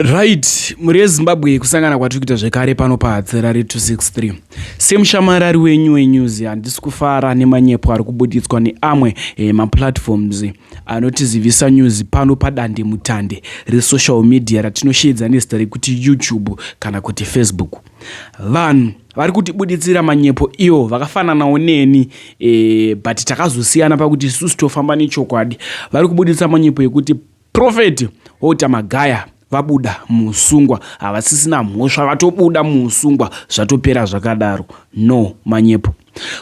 right mhuri yezimbabwe kusangana kwatiri kuita zvekare pano pahatserari 263 semushamarari wenyu wenews handisi kufara nemanyepo ari kubuditswa neamwe eh, maplatforms anotizivisa news pano padande mutande resocial media ratinosheedza nezita rekuti youtube kana kuti facebook vanhu vari kutibuditsira manyepo iwo vakafananawo neni eh, but takazosiyana pakuti isusu tofamba nechokwadi vari kubuditsa manyepo ekuti Prophet Hota Magaya vabuda muusungwa havasisina mhosva vatobuda muusungwa zvatopera zvakadaro no manyepo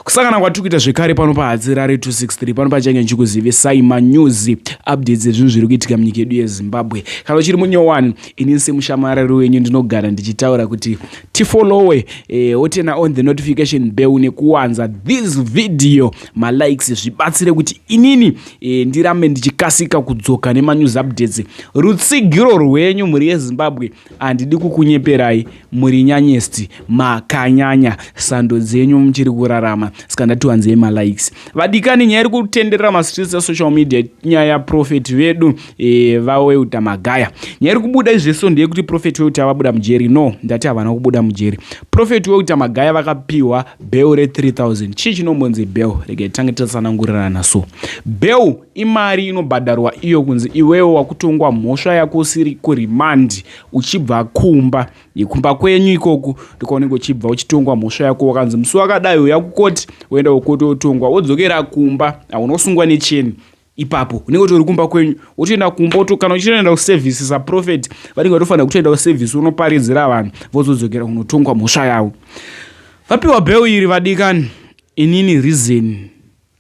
kusangana kwatiri kuita zvekare pano pahadzirare 263 pano pachange ndichikuzivisai manews updates ezvinhu zviri kuitika munyika yedu yezimbabwe kana uchiri munyowani inini semushamarari wenyu ndinogara ndichitaura kuti tifollowe eh, otena on the notification bell nekuwanza this video malikes zvibatsire kuti inini e, ndirambe ndichikasika kudzoka nemanews updates rutsigiro rwenyu mhuri yezimbabwe handidi kukunyeperai muri nyanyesti makanyanya sando dzenyu muchiri kurarama saka ndati wanzei malikes vadikani nyaya iri kutenderera mastreets esocial media nyaya yaprofeti vedu e, vaweuta magaya nyaya iri kubuda izveso ndeyekuti profeti weuta vabuda mujeri no ndati havana kubuda mujeri profeti weuta magaya vakapiwa Beu re 3000 chii chinombonzi beu? Regai titange tatsanangurirana. So beu imari inobhadharwa iyo kunzi iwewe wakutongwa mhosva yako usiri kurimandi uchibva kumba yekumba kwenyu ikoku ndikwaunenge uchibva uchitongwa mhosva yako wakanzi musi wakadai uya kukoti woenda kukoti wotongwa wodzokera kumba haunosungwa necheni ipapo unenge utori kumba kwenyu wotoenda kumba woto kana uchitoenda kuservice saprophet vanenge vatofanira kutoenda kuservice unoparidzira vanhu vozodzokera kunotongwa mhosva yavo vapiwa bheu iri vadikani inini reason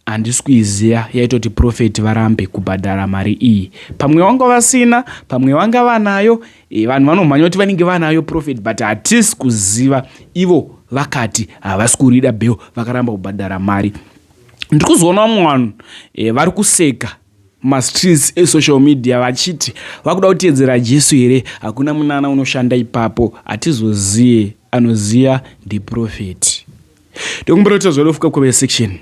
handisi kuiziva yaitoti profeti varambe kubhadhara mari iyi pamwe vanga vasina pamwe vanga vanayo e, vanhu vanomhanya kuti vanenge vanayo profeti but hatisi kuziva ivo vakati havasi kurida bheo vakaramba kubhadhara mari ndiri kuzoona vamwe vanhu eh, vari kuseka mastreets esocial media vachiti vakuda kutedzera jesu here hakuna munana unoshanda ipapo hatizoziye anoziva ndiprofeti ndokumbira kuti zvalofuka kweve section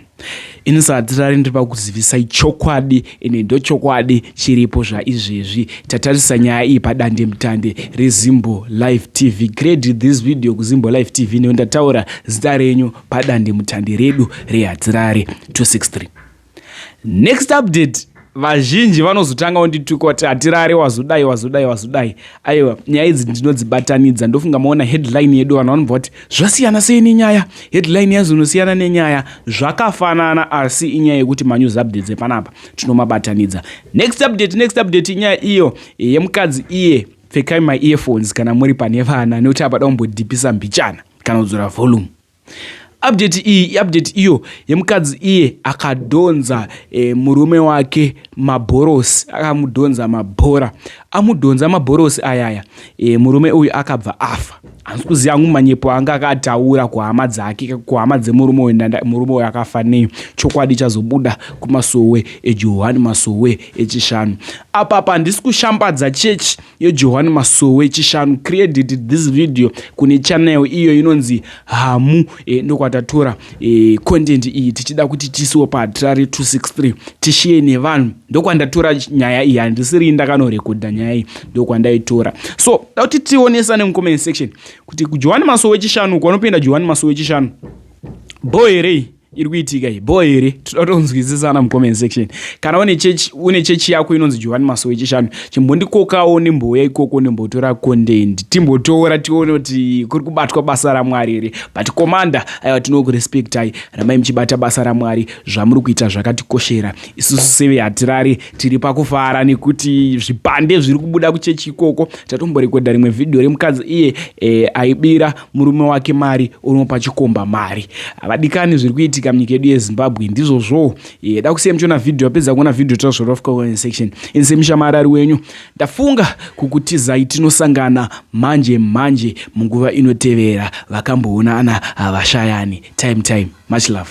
ini sahatirari ndiri pakuzivisai chokwadi ine ndochokwadi chiripo zvaizvezvi tatarisa nyaya iyi padande mutande rezimbo live tv grade this video kuzimbo live tv nekuti ndataura zita renyu padandemutande redu rehadzirare 263 next update vazhinji vanozotanga wondituka kuti hatirare wazodai wazodai wazodai aiwa nyaya idzi ndinodzibatanidza ndofunga maona headline yedu vanhu vanobva kuti zvasiyana sei nenyaya headline yazonosiyana nenyaya zvakafanana asi inyaya yekuti manews updates epanapa tinomabatanidza next update next update inyaya iyo yemukadzi iye yeah. pfekai maearphones kana muri pane vana nekuti apada kumbodhipisa mbichana kana kudzora volume update iyi iupdate iyo yemukadzi iye akadhonza e, murume wake mabhorosi akamudhonza mabhora amudhonza mabhorosi ayaya e, murume uyu akabva afa hanzi kuziva hangu manyepo anga akataura kuhama dzake kuhama dzemurume uyu murume uyu akafa nei chokwadi chazobuda kumasowe ejohani masowe echishanu apapa handisi kushambadza chechi yejohani masowe echishanu created this video kune channel iyo inonzi hamu e, ndokwatatora e, content iyi tichida kuti tisiwo pahatirari 263 tishiye nevanhu ndokwandatora nyaya iyi handisiri ndakanorekodha nyaya iyi ndokwandaitora so da kuti tionesane mucomment section kuti johani masowe wechishanu kwanopinda johani masowe wechishanu bho here iri kuitika iyi bho here tinotonzwisisana mucomment section kana une chechi yako inonzi johani masowe wechishanu chimbondikokawo nembouya ikoko nembotora content timbotora tione kuti kuri kubatwa basa ramwari here but commander aiwa tinokurespectai ramai muchibata basa ramwari zvamuri kuita zvakatikoshera isusu seve hatirari tiri pakufara nekuti zvipande zviri kubuda kuchechi ikoko tatomborekodha rimwe vhidhiyo remukadzi iye e, aibira murume wake mari unopa chikomba mari havadikani zviri kuitika munyika yedu yezimbabwe ndizvozvowo Yeah, dakusiya muchiona video apedza kuona video tozvora of comment section inse mushamarari wenyu ndafunga kukutizai tinosangana manje manje munguva inotevera vakamboonana havashayani time time much love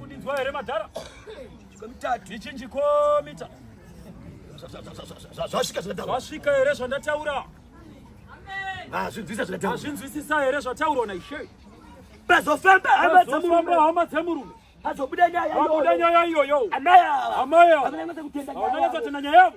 Kudinzwa here madhara? Chikomita. Ichinji komita. Zvasvika zvataura. Zvasvika here zvandataura? Hazvinzwisa zvataura. Hazvinzwisisa here zvataurwa naIshe? Pazofamba hama dzemurume. Pazofamba hama dzemurume. Pazobuda nyaya iyoyo. Pazobuda nyaya iyoyo. Amai ava. Amai ava. Vanonyatsotenda nyaya yavo.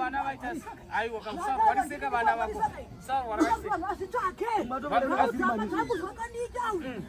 vana vaita aiwa kausarwariseka vana vako usarwariseka